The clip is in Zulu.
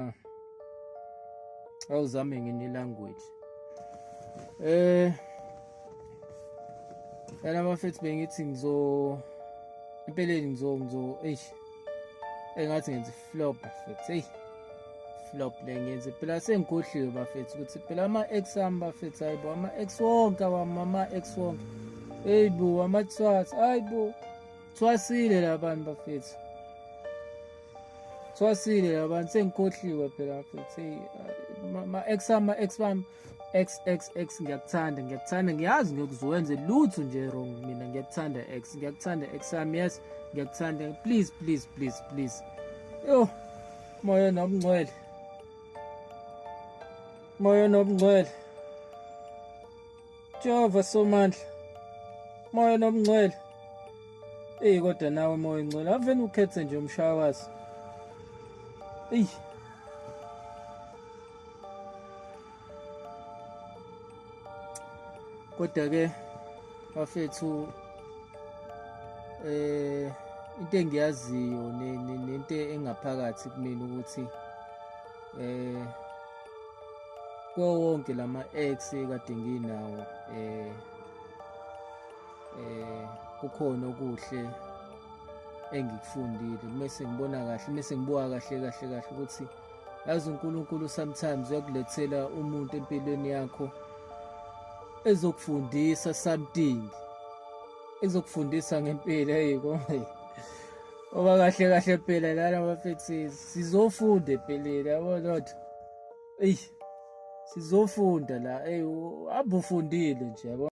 Ah. Awuzame ngenye language. Eh Yala bafethu bengithi ngizo empeleni ngizo ngizo eish engathi ngenza flop bafethu hey flop le ngenze phela sengigodliwe bafethu ukuthi phela ama ex ami bafethu hayibo ama ex wonke awami ama ex wonke hey bo ama thwathi hayibo thwasile labantu bafethu Thwasile yabantu sengikhohliwe phela futhi uh, ma ex ama ex bam ex ex ex ngiyakuthanda ngiyakuthanda ngiyazi ngiyokuzwenze lutho nje wrong mina ngiyakuthanda ex ngiyakuthanda ex am yes ngiyakuthanda please please please please yo moya nobungcwele moya nobungcwele Jehova somandla moya nomngcwele eyi kodwa nawe moya ingcwele aveni ukhethe nje umshaya wazo eyi kodwa ke bafethu eh into engiyaziyo nento engaphakathi kumina ukuthi eh kuwo wonke lama ex kade nginawo eh eh kukhona okuhle engikufundile kumese ngibona kahle kumese ngibuka kahle kahle kahle ukuthi yazi uNkulunkulu sometimes uyakulethela umuntu empilweni yakho ezokufundisa something ezokufundisa ngempilo hey konke oba kahle kahle phela lana bafethu sizofunda empilweni yabo lotho eyi sizofunda la eyi abufundile nje yabo